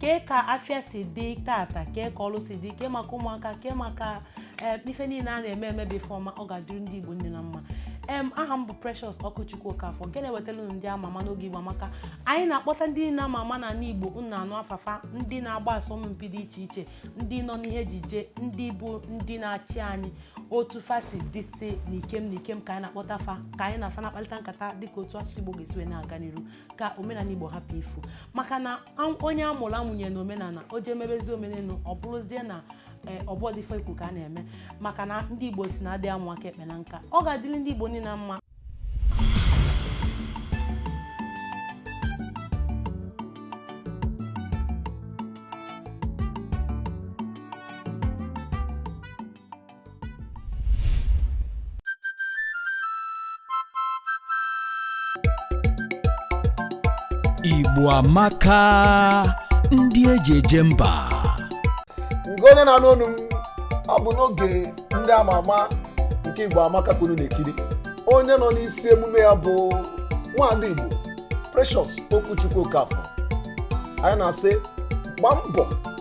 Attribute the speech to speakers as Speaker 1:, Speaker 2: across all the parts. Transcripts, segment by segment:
Speaker 1: kee ka afịa si dị tata kee ka ọlụ si dị kee maka ụmụaka kee maka eh, ife niile a na-eme eme bụ ife ọma ọ ga-adịrị ndị Igbo niine mma em aha m bụ Precious Okwuchukwu Okafọ nke na-ewetara unu ndị ama ama n'oge Igbo Amaka anyị na-akpọta ndị niile ama ama n'ala Igbo unu na-anụ afa fa ndị na-agba asọmpi dị iche iche ndị nọ n'ihe ejije ndị bụ ndị na-achị anyị otu fa si dịsị n'ikem n'ikem ka anyị na-akpọta fa ka anyị na fa na-akparịta nkata dịka otu asụsụ Igbo ga-esi wee na-aga n'iru ka omenala igbo hapụ ifu maka na onye a mụrụ amụnye na omenala o jee mebezi omenelu ọ bụrụzie na e, ọbọdịfọ ikwu ka a na-eme maka na ndị igbo sị na adị amụ aka ekpe na nka ọ ga-adịrị ndị igbo niile mma
Speaker 2: Igbo amaka ndị eji eje mba ngị
Speaker 3: onye na-anụ onu m ọ bụ n'oge ndị ama ama nke igbo amaka ka unu na-ekiri onye nọ n'isi emume ya bụ nwaada igbo precious okwuchukwu okafọ anyị na-asị gba mbọ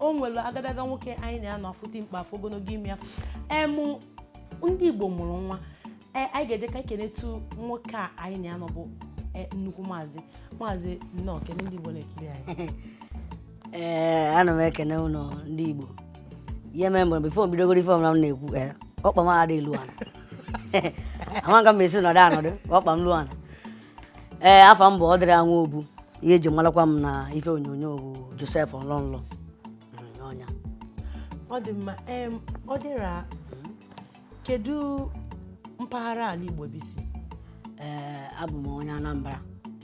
Speaker 1: o nwere agadaga nwoke anyị na ya nọ a fụ dimkpa a fụ ogologo imi ya em ndị igbo mụrụ nwa e anyị ga-eje ka ekenetu nwoke a anyị na ya nọ bụ e, nnukwu maazị maazị nnọọ kene ndị igbo na-ekiri anyị
Speaker 4: ee ana m ekene unu ndị igbo ihe mere mgbe bifo m bidogodu ife ọbụla m na-ekwu ee ọkpa m adị elu ana amaga m esi nọdụ anọdụ ka ọkpa m lu ana ee afa m bụ ọdịra nwobu ihe eji malakwa m na ife onyonyo bụ josef ọlọ nlọ ọ
Speaker 1: nya ọ dị mma em ọdịra kedu mpaghara ala igbo ebe i si ee
Speaker 4: abụ m onye anambra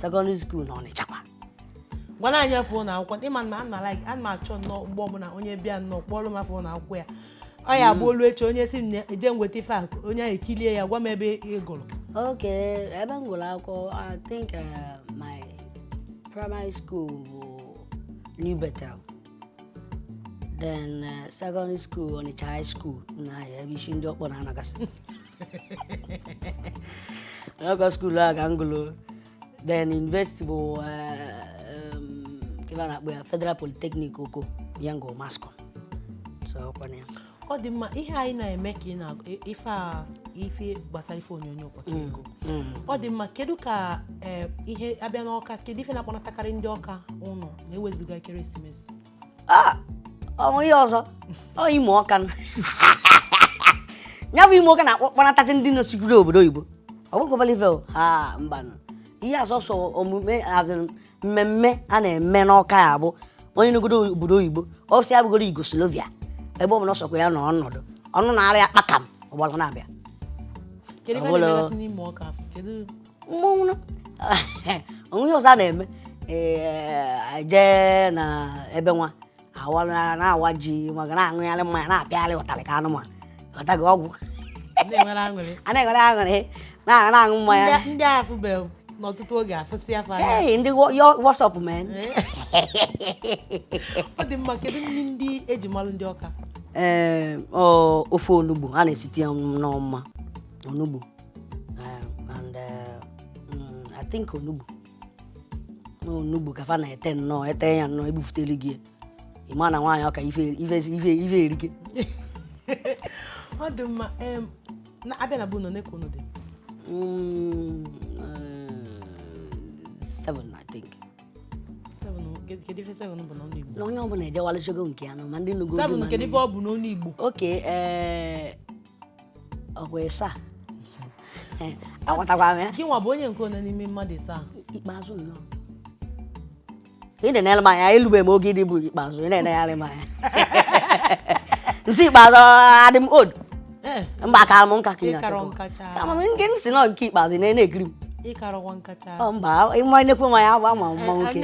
Speaker 4: sekọndịrị skuul na ọnịcha kwa gwana
Speaker 1: anyị afa ụlọ akwụkwọ ị ma na ana like ana m achọ nnọọ mgbe ọbụla onye bịa nnọọ kpọọrọ m afa ụlọ akwụkwọ ya ọ ya bụ o lu echi onye sị m na eje nweta ife a onye ahụ ekilie ya gwa m ebe ị gụrụ okay
Speaker 4: ebe m gụrụ akwụkwọ i think uh, my primary school bụ new bethel then uh, secondary school ọnịcha high school na ebe isi ndị ọkpọ na-anagasị n'ọkọ skuul a ka m gụrụ then university bụ eh, um, nke a na-akpọ ya federal polytechnic oko ya m gụ mass comm so ọkwana ya ọ
Speaker 1: dị mma ihe anyị na-eme ka ị na ife a ife gbasara ife onyonyo ụbọchị mm, ego mm. ọ dị mma kedu ka eh, ihe a bịa n'ọka kedu ife na-akpọnatakarị ndị ọka ụnọ ma e wezuga ekeresimesi
Speaker 4: Ah, o nwe ihe ọzọ ọ ime ọka nụ. ya bụ ime ọka na-akpọnatacha ndị nọsikwuru obodo oyibo ọ bụkọbala ife o ha mbanụ ihe asọsọ omume azịrị mmemme a na-eme n'ọka ya bụ onye nọgodu obodo oyibo ọ sọ ya bụgodu Yugoslavia ebe ọ bụla ọ sọkwa ya nọ ọnọdụ ọnụ na-ara ya kpakam ọ gbara na-abịa Kedu ife ọ bụ a na-emegasị n'ime ọka? Kedu mmọnwụ na o nwe ihe ọzọ a na-eme ee jee na ebe nwa a wa na-awa ji ma ga na-aṅụgharị mmanya na-apịagharị ụtarị ka anụmanụ ghọta gị ọgwụ Ndị nwere aṅụrị. a na-enwere aṅụrị na- na-aṅụ mmanya Ndị- ndị a
Speaker 1: afụbeghị n'ọtụtụ oge afụsịa fa anya Hey, ndị wo-
Speaker 4: yo- what's up
Speaker 1: man ọ dị mma kedu nri ndị e ji malụ ndị Ọka ee ọ, ofe
Speaker 4: onugbu a na-esite ya nnọọ mma onugbu um, and uh, mm, I think onugbu na onugbu ka fa na-ete nnọọ ete ya nnọọ ebufutelu gị ya. ị ma na nwaanyị Ọka ife ife ife ife erike
Speaker 1: ọ dị mma em, na a bịa na be unu one ka unu dị
Speaker 4: Mm, uh, seven I think Seven,
Speaker 1: kedu kedu ife seven bụ n'ọnụ Igbo na onye ọbụla ejewalụchago
Speaker 4: nke ya nọ ma ndị nụgo seven kedu ife ọ bụ n'ọnụ
Speaker 1: Igbo okay ee
Speaker 4: ọkwa ịsa agwatakwa m ya gị nwa bụ onye nke one
Speaker 1: n'ime mmadụ ịsa ikpeazụ
Speaker 4: nnọọ ị na-enere m anya elube m oge ịdị bụ ikpeazụ ị na-enegharị m anya m sị ikpeazụ adị m old eh. mba akara m nka ka ị na-achọkwa nke m si nọ nke ikpeazụ ị na-ekiri m ị karọkwa nka
Speaker 1: cha mba ị ma nnekwu
Speaker 4: nwa ya agba ma mma nwoke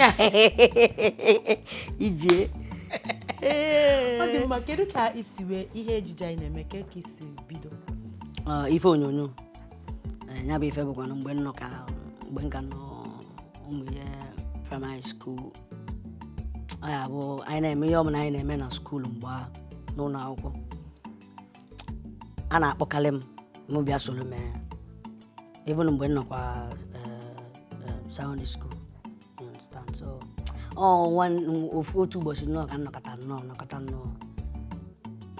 Speaker 4: ijie
Speaker 1: ọ dị mma kedu ka i si wee ihe ejije a ị na-eme ka ka i si bido ah,
Speaker 4: ife onyonyo eh, ya bụ ife bụkwana mgbe m nọ ka mgbe m ka nọ ụmụ ihe primary school ọ ya bụ anyị na-eme ihe ọbụla anyị na-eme na school mgbe ahụ n'ụlọ akwụkwọ a na-akpọkarị m mụ bịa soro mee even mgbe m nọkwa eh, eh, secondary school otu ụbọchị nnọọ ka m nọkata nnọọ m nọkata nnọọ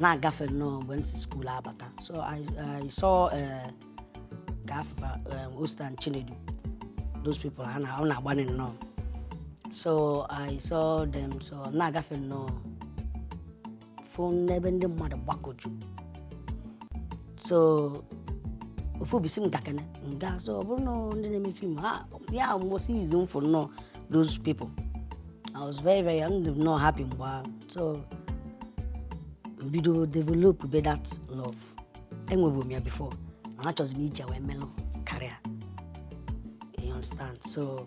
Speaker 4: na-agafe nnọọ mgbe m si school abata so I saw eh, ka afụ fa eh, Osita and Chinedu those people ha na-agbanye nnọọ so I saw them so na-agafe nnọọ fụ n'ebe ndị mmadụ gbakọju so ofu obi sị m gakene m gaa so ọ bụrụ na ndị na-eme film ha ya mbụ izizi m fụ nnọọ those people I was very very young dị nnọọ happy mgbe ahụ so m bido develop be that love enwebu m ya before na achọzi m iji wee melụ career you understand so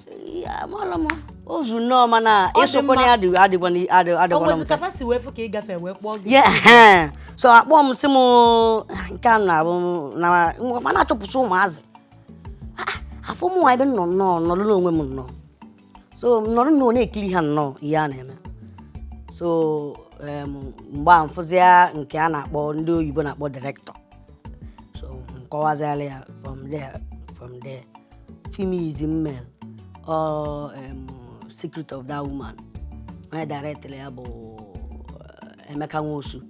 Speaker 1: ozu nnọọ mana ịsụkwa na ya adịghịkwana mfe so
Speaker 4: a kpọọ m sị m nke a na-abụ na na-achọpụsị ụmụazị afụ mụnwa ebe nọ nnọọ nọrọ n'onwe m nnọọ so nọrọ nnọọ na-ekiri ha nnọọ ihe a na-eme so mgbe a m fụzia nke a na-akpọ ndị oyibo na-akpọ director so m kọwaziala ya from there from there film izizi m mere ọ em, secret of that woman onye director ya bụ eh, emeka nwosu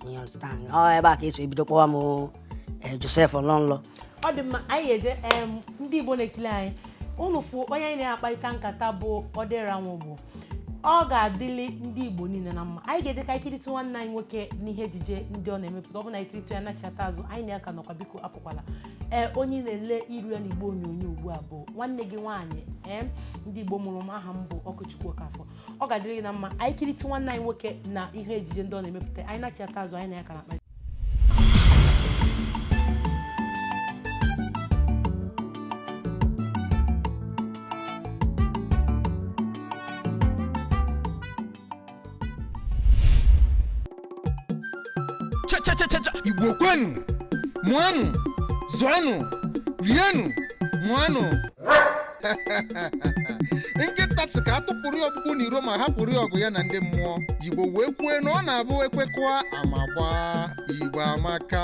Speaker 4: you understand ọ ebe a ka e si bido kpọwa m eh, joseph ọlọ nlọ ọ dị mma
Speaker 1: anyị eje em, ndị igbo na-ekiri anyị unu fụ onye anyị na-akparịta nkata bụ odira nwobu ọ ga-adịli ndị igbo niile na mma anyị ga-eje ka anyị kiritụ nwanne anyị nwoke n'ihe ejije ndị ọ na-emepụta ọ bụ na anyị kiritụ ya nachata azụ anyị na ya ka nọkwa biko apụkwala ee onye ị na-ele iru ya n'igbo onyonyo ugbu a bụ nwanne gị nwaanyị ee ndị igbo mụrụ m aha m bụ okwuchukwu okafọ ọ ga-adịrị gị na mma anyị kiritụ nwanne anyị nwoke na ihe ejije ndị ọ na-emepụta anyị nachata azụ anyị na ya ka na-akpa
Speaker 5: chachachacha igbo kwenu mụanụ zụanụ rienụ ṅụanụ nkịta sị ka a tụpụrụ ya ọkpụkpụ n'iro ma hapụrụ ya ọgụ ya na ndị mmụọ igbo wee kwue na ọ na-abụ ekwekọa ama gbaa igbo amaka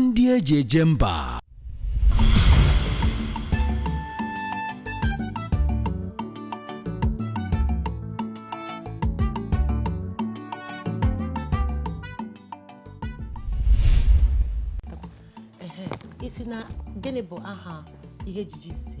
Speaker 2: ndị e ji eje
Speaker 1: mba ị sị na gịnị bụ aha ihe ejije si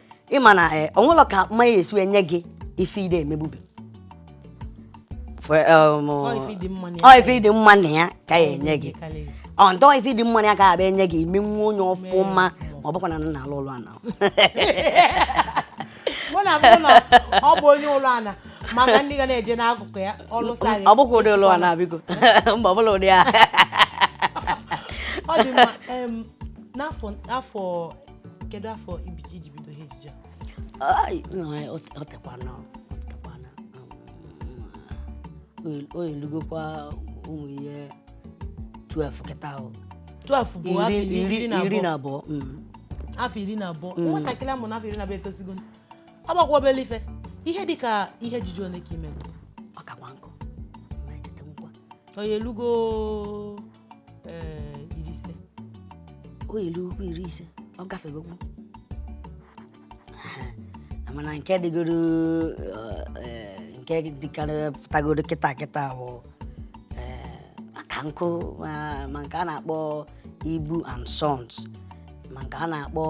Speaker 4: ị ma na eh, o nwelu ka mmanya esi enye gị ife ide emegbube Fe- um, Ọ ife ịdị mma na ya. ọ ife ịdị mma na ya ka ya enye gị Karịrị. ọ ntọ ife ịdị mma na ya ka abịa enye gị i menwu onye ọfụma ma ọ bụkwa na nna alụ ụlọ ana mụ na
Speaker 1: mụ na ọ bụ onye ụlọ ana maka ndị ga na-eje n'akụkụ ya ọlụsa gị ọ bụkwa ụdị ụlọ ana
Speaker 4: biko mba ọ bụla ụdị ya ọ dị mma
Speaker 1: em, n'afọ afọ kedu afọ ibiji i ji bido ihe ejije a? Ai, no,
Speaker 4: eh, o o tekwana o tekwana um, o elugokwa ụmụ ihe 12 kịta ahụ 12 bụ afọ
Speaker 1: iri iri iri na iri na
Speaker 4: abụọ abụọ mm.
Speaker 1: afọ iri na abụọ nwatakịrị a mụ na afọ iri na abụọ etosigo agbakwa obele ife ihe dị ka ihe ejije ole ka i me ọ kakwa nkụ
Speaker 4: na-echeta nkwa
Speaker 1: onye elugo ee iri ise
Speaker 4: o lugokwu iri ise ọ gafegokwu mana nke dịgoro eh, nke dịkarị pụtagoro kịta kịta bụ eh, aka nkụ ma ma nke a na-akpọ ibu and sons ma nke a na-akpọ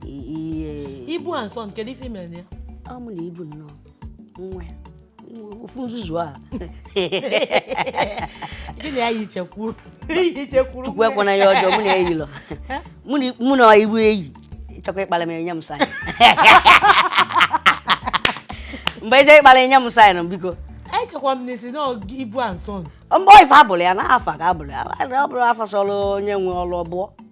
Speaker 4: i- ihe
Speaker 1: ibu and sons nke ife mere ya ọ mụ na ibu nnọọ
Speaker 4: nwa ya ofu nzuzu
Speaker 1: a gịnị ya yichekwuru yichekwuru chukwu
Speaker 4: ekwana ya ọjọọ mụ na eyi lọ mụ na ibu eyi chọkwa ịkpara m enye m sign mgbe eje ịkpara enye m sign biko echekwa m na ị
Speaker 1: sị na ibu and sons mgbe ife abụrụ ya
Speaker 4: na afa ka abụrụ ya ọ bụrụ afa sọrọ onye nwe ọrụ ọbụọ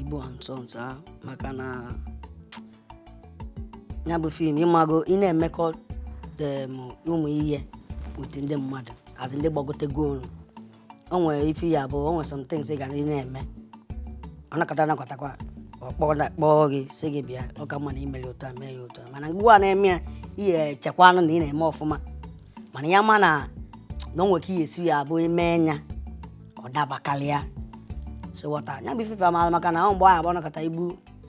Speaker 4: ibu and sons ahụ maka na ya bụ film ịmago ị na-emekọ em, ụmụ ihe with ndị mmadụ a sị ndị gbagotego olu o nwere ife ya bụ o nwere some things ị gara ị na-eme ọ nọkata nọkatakwa ọ kpọọ na- kpọọ gị sị gị bịa ọ ka mma na i mere otu a mee ya otu a mana mgbe ị na-eme ya ị ya-echekwanụ na ị na-eme ọfụma mana ya ma na na o nwere ka ihe esi ya abụ ime nya ọ dabakalịa so wọta nya bụ ifefe amaala maka na ọ mgbe ahụ ọ nọkata ibu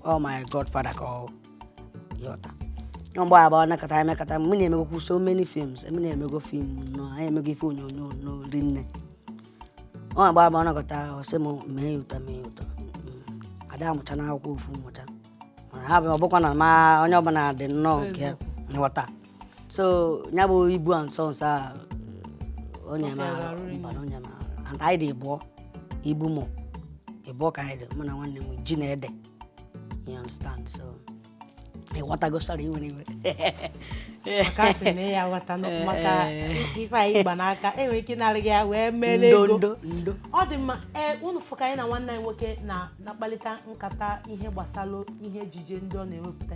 Speaker 4: ọ oh my godfather ka ọ yọta ọ mgbe ahụ ọnakọta emekọta m na-emegokwu so many films m na-emego film nnọọ anyị emego ife onyonyo nnọọ rinne ọ mgbe ahụ ọ nọkata ọ sị m mee ya otu a mee ya otu a mm. ada amụcha n'akwụkwọ ofu mmụta mana ha bụ ọbụkwa na ma onye ọbụla dị nnọọ nke nghọta so ya bụ ibu and sons a onye Ọ fịara arụ rinne. mara onye mara and anyị dị ịbụọ ibu mụ ịbụọ ka anyị dị mụ na nwanne m ji na ede you understand so ịghọtago sara iwere iwe
Speaker 1: maka a sị na ya ghọta na maka ife anyị gba n'aka enwere ike ịnara gị ya wee mere ndo ego ndo ndo ọ dị
Speaker 4: mma ee
Speaker 1: unu fụ ka anyị na nwanne anyị nwoke na na-akpalite nkata ihe gbasara ihe ejije ndị ọ na-ewepụta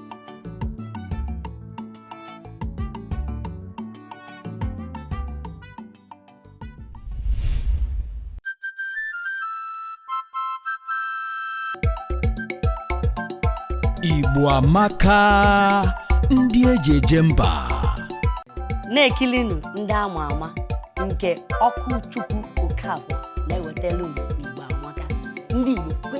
Speaker 2: Igbo amaka ndị eji eje
Speaker 4: mba na-ekilinụ ndị ama ama nke okwuchukwu okafọ na-ewetara unu igbo amaka ndị igbo kwe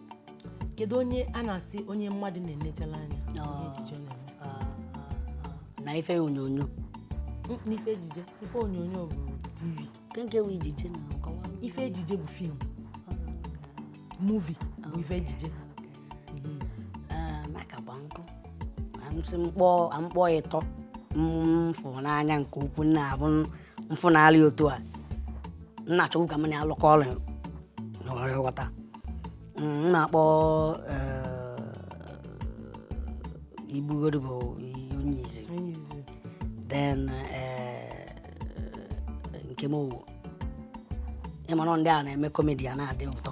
Speaker 1: kedu onye a na-asị onye mmadụ na-enechala anya ihe ejije ọ na-eme Ah,
Speaker 4: ah, ah. na ife onyonyo Mm, n'ife
Speaker 1: ejije ife onyonyo bụ tv kenke wụ ejije
Speaker 4: na nkọwa ife ejije bụ
Speaker 1: film movie bụ ife
Speaker 4: ejije maka gba nkụ a sị m kpọọ m kpọọ ịtọ m fụ n'anya nke ukwu nna abụ m fụnarị otu a nna achọgbu ka m na-alụkọ ọrụ n'ọrụ ghọta m na-akpọ igbugoro bụ onye izizi then Nkem Owoh ị mara ndị a na-eme comedy a na-adị ụtọ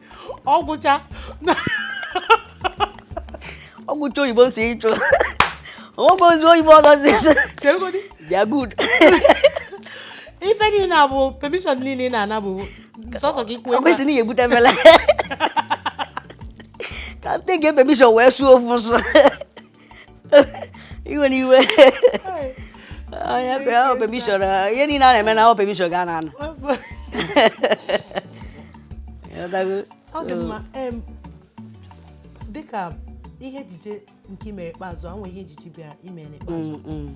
Speaker 1: ọ
Speaker 4: gwụcha ọ gwụcha oyibo si ịchụ o nwekwa ozi oyibo ọzọ si ịchụ chegodị they
Speaker 1: are good ife niile a bụ permission niile ị na-ana bụ sọsọ ka i kwuo ọ kwesịrị na ị ga-ebute
Speaker 4: mele ka nata permission wee sụọ ofu nsọ iwe na iwe onye kwe ahụ permission ihe niile a na-eme na ọ permission ka a na-ana
Speaker 1: dịka ihe ejije nke i mere ikpeazụ e nwe ihe ejije bịara i mere ikpeazụ mm, mm.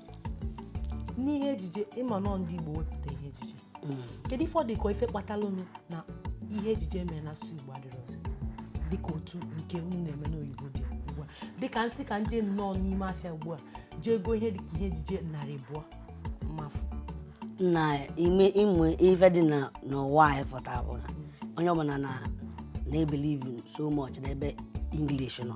Speaker 1: n'ihe ejije ị ma na ọ ndị Igbo wepụta ihe ejije hmm. kedu ife ọ dị ka ife kpatalụnụ na ihe ejije mere na asụsụ Igbo adịrọzị dịka otu nke unu na-eme n'oyibo dị ugbu a dịka m sị ka ndị nnọọ n'ime afịa ugbu a jee goo ihe dịka ihe ejije narị abụọ m ma afụ
Speaker 4: n'ime ị ma ife dị n'ụwa anyị pụta bụ na hmm. onye ọbụla na-ebelieve so much n'ebe English nọ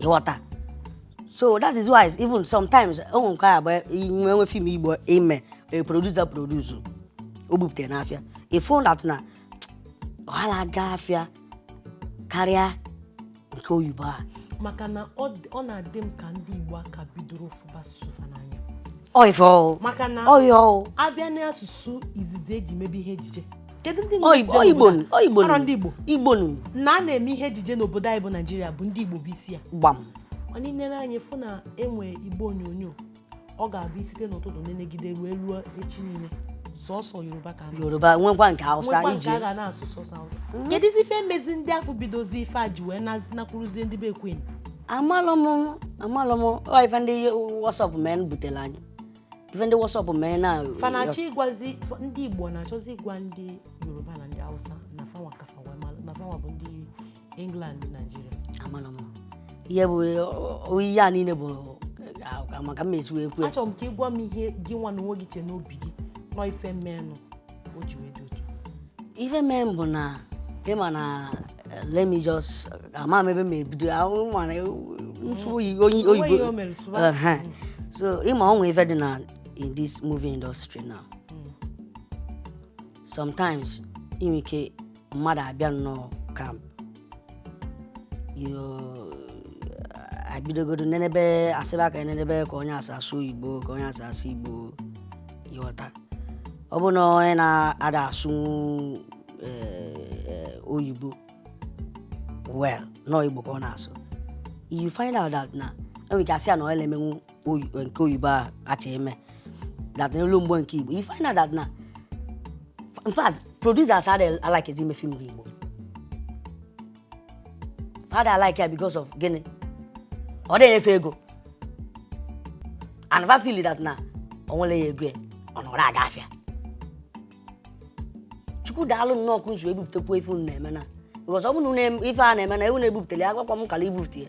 Speaker 4: ịghọta so that is why even sometimes o nwere nke ga-abụ i nwe nwe film igbo i mee a producer produce o bupụta ya n'afịa ị fụ that na ọ na-aga afịa karịa nke oyibo a maka na
Speaker 1: ọ dị- ọ na-adị m ka ndị igbo aka bidoro fụba asụsụ fa n'anya ọ ife ọhụụ
Speaker 4: maka na ọ ihe
Speaker 1: ọhụụ a
Speaker 4: bịa n'asụsụ
Speaker 1: izizi e ji mebe ihe ejije kedu ndị na-eme ejije n'obodo ọ Igbo nụ a? ọ
Speaker 4: Igbo nụ Arọ ndị Igbo Igbo nụ na a na-eme
Speaker 1: ihe ejije n'obodo anyị bụ naijiria bụ ndị igbo bụ isi ya gbam mana
Speaker 4: i nere anya
Speaker 1: fụ na e nwe igbe onyonyo ọ ga-abụ i site n'ụtụtụ nenegide ruo ruo echi niile sọsọ yoruba ka a na-asụ. yoruba nwekwa nke
Speaker 4: hausa nwekwa nke iji a ga na-asụ
Speaker 1: sọsọ hausa kedụzi ife mezi ndị afụ bidozi ife a ji wee nazi- nakwuruzie ndị be queen amalụ m
Speaker 4: amalụ m ọ ife ndị what's up men butere anyị ife ndị what's up men na fa na-achọ
Speaker 1: ịgwazi ndị igbo na-achọzi ịgwa ndị yoruba na ndị hausa na fanwa ka fa na fanwa bụ ndị england naijiria amana
Speaker 4: m ihe bụ ihe a niile bụ maka mmesi wee kwuo achọrọ m ka ị gwa m ihe
Speaker 1: gị nwa na onwe gị chee n'obi gị na ọ ife mee nụ o ji wee dị otu ife mee
Speaker 4: nụ bụ na ị ma na eh, let me just ama m ebe m ebido ahụ mana ntụ oyi onye Onwe oyibo ihe o mere sụba. Ehe. so ị ma o nwe ife dị na in this movie industry now sometimes i nwe ike mmadụ abịa nnọọ camp abidogodo nenebe a sịba ka nenebe ka onye a si asụ igbo ka onye a si asụ igbo ị ghọta ọ bụ na onye na-ada asụ e, e, oyibo well na ọ igbo ka ọ na-asụ you find out that na enwere ike asị ya na ọ na-emenwu nke oyibo a kacha eme that n'elu mgbe nke igbo you find out that na in fact producers adịghị alikezi ime film n'igbo ha dị alike ya because of gịnị ọ dịghị enye fa ego and fa feel that na o nwere ya ego ya ọ narọ aga afịa chukwu daalụ nnọọ ka unu si ebupụtakwu ife unu na-eme na because ọ bụrụ na unu na-eme- ife a na-eme na unu na-ebupụtara ya agwakwa m kala ibupụta ya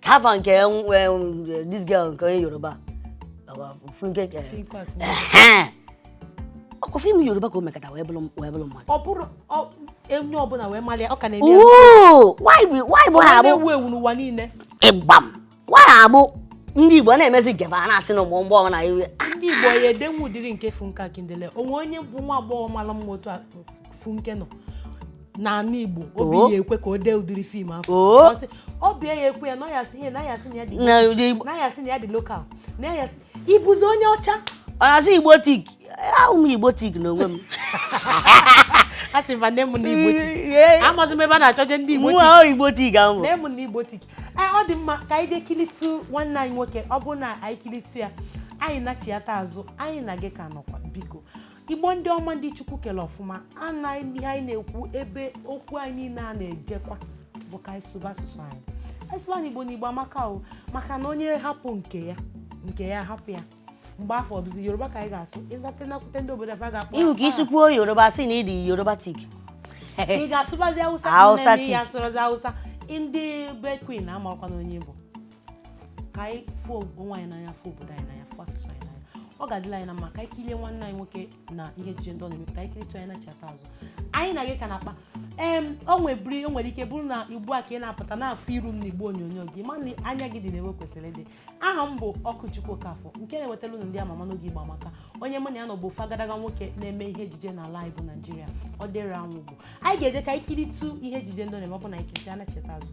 Speaker 4: ka afa nke this girl nke onye yoruba funke ọkwa film yoruba ka o mekata wee bụrụ mmadụ ọ bụrụ
Speaker 1: onye ọbụla wee mara ya ọ ka
Speaker 4: na-eme nwaanyị bụ ha abụ ewu ewu n'ụwa
Speaker 1: niile
Speaker 4: ịgbam nwaanyị abụ ndị igbo na-emezi gebe a na-asị na ụmụ agbọghọ na iwe ndị igbo ga-edenwu
Speaker 1: ụdịrị nke funke akindele o nwee onye bụ nwa agbọghọ mara mma otu funke nọ n'ala Igbo obi ya ekwe ka o dee ụdịrị film afụ obi ya ekwe ya na ya sị na ya sị na ya dị local na ya sị ị bụzi onye ọcha onye sị
Speaker 4: igbotic abụ m igbotic n'onwe m
Speaker 1: a sị mba nne m na igbotic amazi m ebe a na-achọje ndị igbotic nwa igbotic
Speaker 4: ahụ nne m na igbotic
Speaker 1: eh, ọ dị mma ka anyị jee kilitụ nwanne anyị nwoke ọ bụrụ na anyị kilitụ ya anyị nachiata azụ anyị na gị ka nọkwa biko igbo ndị ọma ndị chukwu kele ọfụma anaghị ihe anyị na-ekwu ebe okwu anyị niile a na-ejekwa bụ ka anyị sụba asụsụ anyị anyị sụba igbo na igbo amaka o maka na onye hapụ nke ya nke ya hapụ ya mgbe afụ ọ bụzi yoruba ka anyị ga-asụ ịzate nakwute ndị obodo ebe a ga-akpọ ihu ka i si kwuo
Speaker 4: yoruba sị na ị dị yorubatic
Speaker 1: ị ga-asụbazi awụsa Hausa nne m tik. ya asụrụzi awụsa ndị be queen amakwana onye bụ ka anyị fụ onwe anyị n'anya fụ obodo anyị n'anya fụ asụsụ anyị n'anya ọ ga-adịlị anyị na mma ka anyị kirie nwanne anyị nwoke na ihe ejije ndị ọ na-eme ka anyị kiritụ anyị nachiata azụ anyị na gị ka na-akpa em o nwebiri o nwere ike bụrụ na ugbu a ka ị na-apụta na-afụ iru m na igbe onyonyo gị ma na anya gị dị n'ebe o kwesịrị ịdị aha m bụ okwuchukwu okafọ nke na-ewetara unu ndị amama n'oge igbo amaka onye mụ na ya nọ bụ ofu agadaga nwoke na-eme ihe ejije n'ala anyị bụ naijiria ọdịra nwobu anyị ga-eje ka anyị kiritụ ihe ejije ndị ọ na-eme ọ bụ na anyị kiritụ nachiata azụ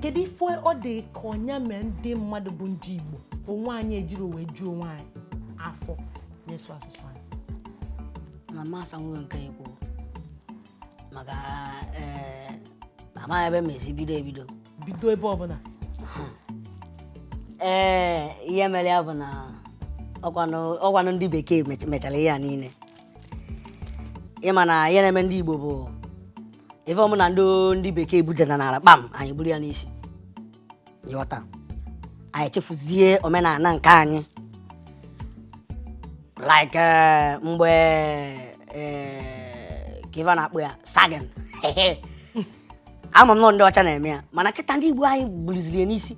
Speaker 1: kedu ife ọ dị ka ọ ya mee ndị mmadụ bụ ndị Igbo onwe anyị ejiri wee juo onwe anyị afọ n'ịsụ asụsụ anyị
Speaker 4: na mmasị nwere nke ikwu maka eh, amaghị ebe m esi bido ebido bido ebe
Speaker 1: ọbụla
Speaker 4: ee eh, ihe mere ya bụ na ọkwanụ ndị bekee mechara ihe a niile ị ma na ihe na-eme ndị Igbo bụ ife ọbụna ndị ndị bekee budata n'ala kpam anyị buru ya n'isi ị ghọta anyị chefuzie omenala nke anyị like eh, mgbe eh, ka ife a na-akpọ ya sagging ama m na ọ ndị ọcha na-eme ya mana kịta ndị Igbo anyị buruziri ya n'isi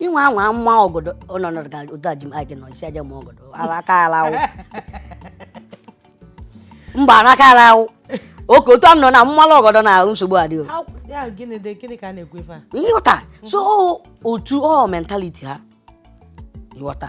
Speaker 4: ị nwaa anwa maa ọgọdọ ọnọdụ ga ụdọ ji m aje nọ isi aje ma ọgọdọ alaka alawụ mba alaka alawụ okay otu anọ na m malụ ọgọdọ na ahụ nsogbu adịghị How- ya gịnị
Speaker 1: dị gịnị ka a na-ekwu ife a ị ghọta so
Speaker 4: ọ- otu ọ mentality ha ị ghọta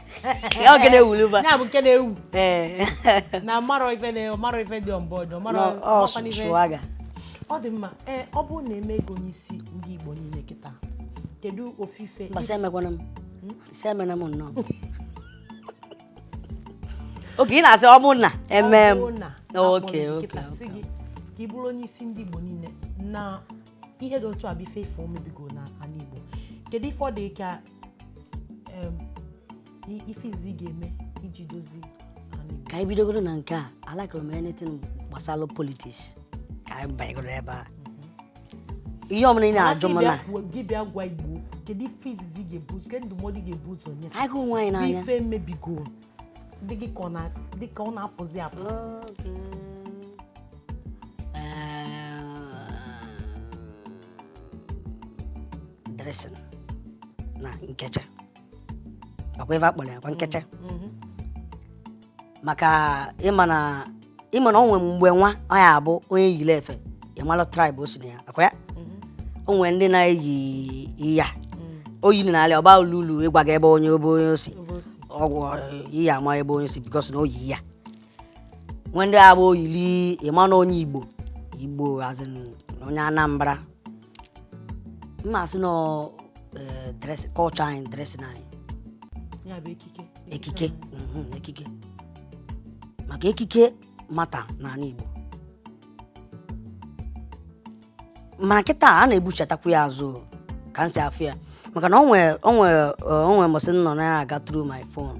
Speaker 4: ọ nke na-ewulu ba ya bụ nke
Speaker 1: na-ewu ee na amarọ ife na ọ marọ ife dị on board ọ marọ nọ- ọ ọmakwana ife-
Speaker 4: swagger ọ dị
Speaker 1: mma ee ọ bụrụ na e mee gị onye isi ndị Igbo niile kịta kedu ofu ife mba sị emekwana m
Speaker 4: sị emena m nnọọ okay ị na-asị ọ bụ na e mee m Ọ bụrụ na okay a kpọọ gị oku kịta
Speaker 1: sị gị ka ị bụrụ onye isi ndị Igbo niile na ihe dị otu a bụ ife ife emebigo n'ala Igbo kedu ife ọ dị ka ife izizi ị ga-eme iji dozie ka anyị bidogoro na nke
Speaker 4: a alakụrụ m anything gbasara politics ka anyị banyegoro ebe a mhm. ihe ọmụrụ ị na-ajụ m na ị bịa gwa Igbo
Speaker 1: kedu ife izizi ị ga-ebu ụzọ kedu ndụmọdụ ị ga-ebu ụzọ nye anyị hụ onwe anyị n'anya
Speaker 4: ife
Speaker 1: mebigo dị gị ka ọ na-apụzi apụ
Speaker 4: dressing na nkecha ọkwa ife a kpọrọ ya kwa nkecha mhm. maka ị ma na ị ma na o nwe mgbe nwa ọ ya-abụ onye yiri efe ị malụ tribe o si na ya akwa ya o nwere ndị na-eyi ya o yi na alị ọba olulu ịgwa gị ebe onye ebe onye si ọgwụ iyi ama ebe onye si because na o yi ya nwe ndị abụ o yili ị ma na onye Igbo Igbo as in onye Anambra m ma-asị na eh, dress- culture anyị dressing anyị ya bụ
Speaker 1: ekike ekike
Speaker 4: mhm, ekike maka ekike matter n'ala Igbo mana kịta a na-ebuchatakwu ya azụ o, ka m si afụ ya maka na o nwe o nwe o nwe mbọsị m nọ na-aga through my phone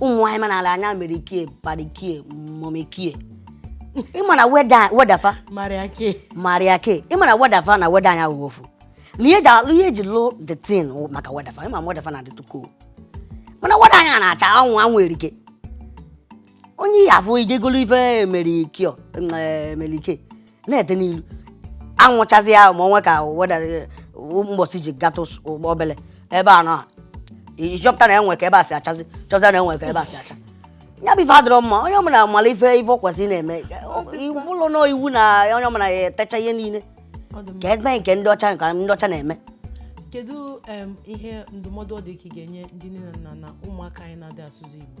Speaker 4: ụmụ nwaanyị ma n'ala anyị Mary Kay parikie momekie ịma na weather weather fa Mary Kay Mary Kay ịma na weather fa na weather anyị wụ ofu na ihe eji alụ ihe eji lụ the thing wụ maka weather fa ịma na weather fa na-adịtụ cool mana weather anyị na-acha anwụ anwụ erike onye ihe afọ i jee golu ife Mary Kay o Mary Kay na-ete n'ilu anwụ chazie ya ma onwe ka weather mgbọsị i ji gata ụgbọ obele ebe a nọ ị chọpụta na o nwe ka ebe a si achazi chọpụta na o nwe ka ebe a si acha ya bụ ife adịrọ mma onye ọbụla mala ife ife ọ kwesịrị na-eme ọ bụrọ n'iwu na onye ọbụla ya-etecha ihe niile Ọ dị mma. ka e mee nke ndị ọcha nke ndị ọcha na-eme kedu
Speaker 1: em, ihe ndụmọdụ ọ dị ka ị ga-enye ndị nne na nna na ụmụaka anyị na-adị asụsụ igbo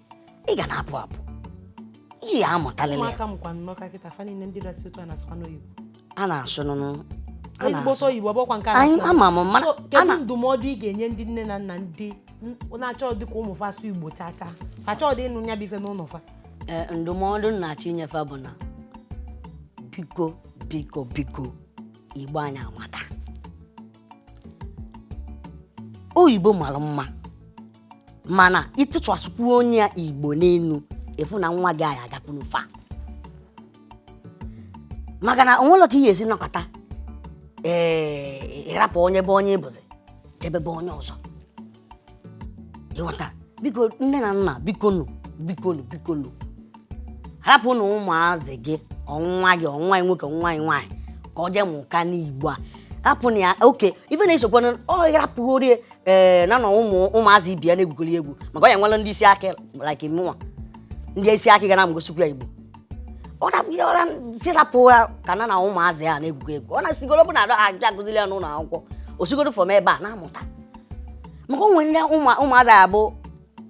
Speaker 4: ị ga na-apụ apụ ị ya-amụtalịlị ya ụmụaka mụkwa n'Ọka
Speaker 1: kịta fa niile ndị na-asụ otu a na-asụkwa n'oyibo a na-asụ
Speaker 4: n'ụnọ a ezigbo na-asụ. sọ
Speaker 1: oyibo ọ bụkwa nke a anyị na-asụ ama m mana So, a kedu na ndụmọdụ ị ga-enye ndị nne na nna ndị n- na-achọdị ka ụmụ fa asụ igbo chaa chaa fa achọdị ịnụ ya bụ ife n'ụlọ fa Eh, ndụmọdụ
Speaker 4: m na-achọ inye fa bụ na biko biko biko igbo anyị amaka oyibo malụ mma mana ị tụkwasịkwunye ya igbo n'elu ị fụ na nwa gị a ya-agakwunu far maka na onwere ka ị ga-esi nọkata ee ịrapụ onye ị bụ onye ị bụzi jebe be onye ọzọ ịghọta biko nne na nna bikonu bikonu bikonu rapụnụ ụmụazị gị ọ nwa gị ọ nwa gị nwoke nwa gị nwaanyị ka ọ jee mụkwanụ igbo a rapụnụ ya oke ife na-esokwana ọ rapụghị orie ee na na ụmụ ụmụazị ibe ya na-egwukọrị egwu maka ọ ya nwere ndị isi akị like mụnwa ndị isi akị ga na-egosikwu ya igbo ọ rapụ ya ọ ra sị rapụ ya ka ya na ụmụazị ya na-egwukọ egwu ọ na-asịgodu bụ na a da akụ akụziri ya n'ụlọ akwụkwọ o sigodu from ebe a na-amụta maka onwe ndị ụmụ- ụmụazị a bụ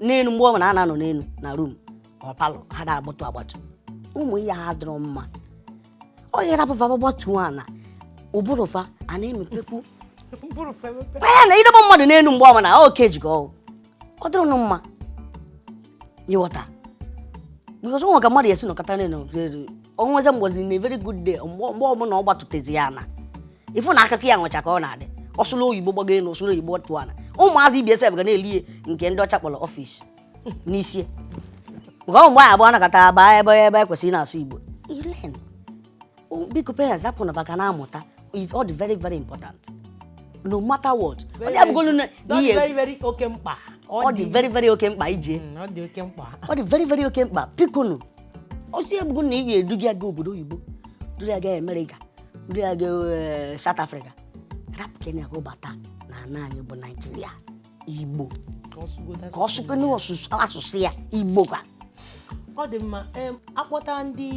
Speaker 4: n'elu mgbe ọ bụla a na-anọ n'elu na room ka ọ parlour ha da-agbatu agbatu ụmụ ihe a adịrọ mma ọ ị rapụ fa fa gbatuo ana ụbụrụ fa a na-emepekwu anya na idebe mmadụ n'elu mgbe ọbụla ọ ka ejigo ọgwụ ọ dịrọnụ mma ịghọta because onwe ka mmadụ esi nọkata n'elu onwezie mgbọsị one very good day mgbe ọbụla ọ gbatutezie ana ị fụ na akụkọ ya nwecha ka ọ na-adị ọ sụlụ oyibo gbago elu ọ sụlụ oyibo tuo ana ụmụazị ibe ya sef ga na-eli nke ndị ọcha kpọrọ office n'isi nke ọ mgbe anyị abụọ nọkata abịa ebe e kwesịrị na-asụ igbo ilen biko parents hapụnụ ụmụaka na-amụta it's all very very important no matter what ọ sị ya bụgodu na ihe very very oke mkpa ọ dị very very oke mkpa ije mm, ọ dị oke mkpa ọ dị very very oke mkpa bikonu ọ sị ya bụgodu na ị ga-eduga ya obodo oyibo duru ya gaa Amerịka duru ya gaa eh, South Africa rapụkene ya ka ọ bata na ala anyị bụ Naijiria igbo ka ọ sụgodo ka ọ asụsụ sụgo n'asụsụ asụsụ ya igbo ka ọ
Speaker 1: dị mma em, akpọta ndị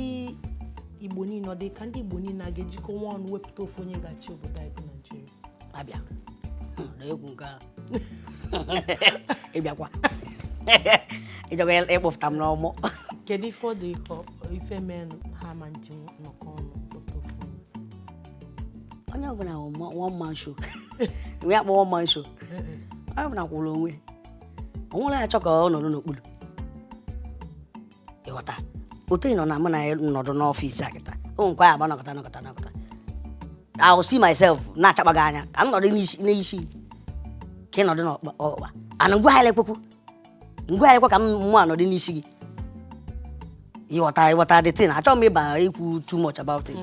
Speaker 1: igbo niile ọ dị ka ndị igbo niile a ga-ejikọnwu ọnụ wepụta ofu onye ga-achị obodo anyị bụ naijiria
Speaker 4: abịa na egwu nke a ịbịakwa ịjọba ịkpọfụta m n'ọmụ kedu ife ọ dị
Speaker 1: ka ọ- ife mee ha ma nji nọkọ ọnụ
Speaker 4: onye ọbụla one man show nwe akpọ one man show onye ọbụla kwụrụ onwe o nwerọ onye chọ ka ọ nọdụ n'okpuru ịghọta otu ị nọ na mụ na ya nọdụ n'ọfịs a kịta o nkwa ya agba nọkọta nọkọta nọkọta I will see myself na-achakpa gị anya ka m nọdụ n'isi ka ị nọdụ n'ọkpa and ngwa ha ekwekwu ngwa anyị kwa ka mụ nọdụ n'isi gị ịghọta ịghọta the thing achọghị m ịba ikwu too much about
Speaker 1: it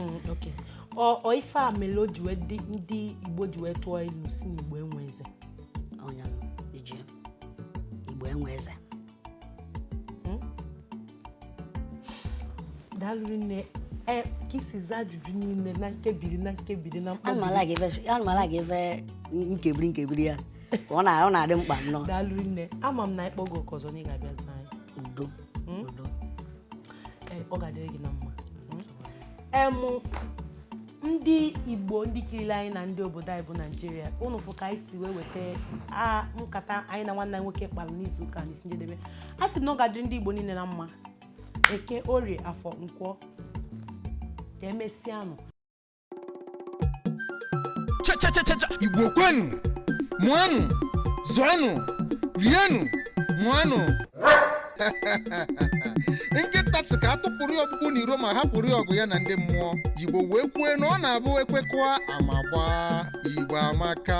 Speaker 1: ọ ife a mere o ji wee dị ndị igbo ji wee tụọ ilu sị na igbo enwe eze
Speaker 4: igbo enwe
Speaker 1: eze daalụ nne e, ka i si zaa ajụjụ niile na nkebiri na nkebiri na mkpọbiri anụmala
Speaker 4: ga-ebe nkebiri nkebiri ya ọ na- ọ na-adị mkpa nnọọ daalụ nne ama
Speaker 1: m na anyị kpọọ gị oku ọzọ na ị ga-abịa zaa anyị udo udo Ee, ọ ga-adịrị gị na mma em ndị igbo ndị kiriri anyị na ndị obodo anyị bụ naijiria unu fụ ka anyị si wee weta a nkata anyị na nwanne anyị nwoke kpara n'izu ụka n'isi njedebe asị m na ọ ga-adịrị ndị igbo niile na mma eke orie afọ nkwọ ka emesịanụ
Speaker 5: Cha cha cha cha cha Igbo kwenu mụanụ zụanụ rienụ ṅụanụ nkịta sị ka a tụpụrụ ya ọkpụkpụ n'iro ma hapụrụ ya ọgụ ya na ndị mmụọ igbo wee kwue na ọ na-abụ ekwekọa ama gbaa igbo amaka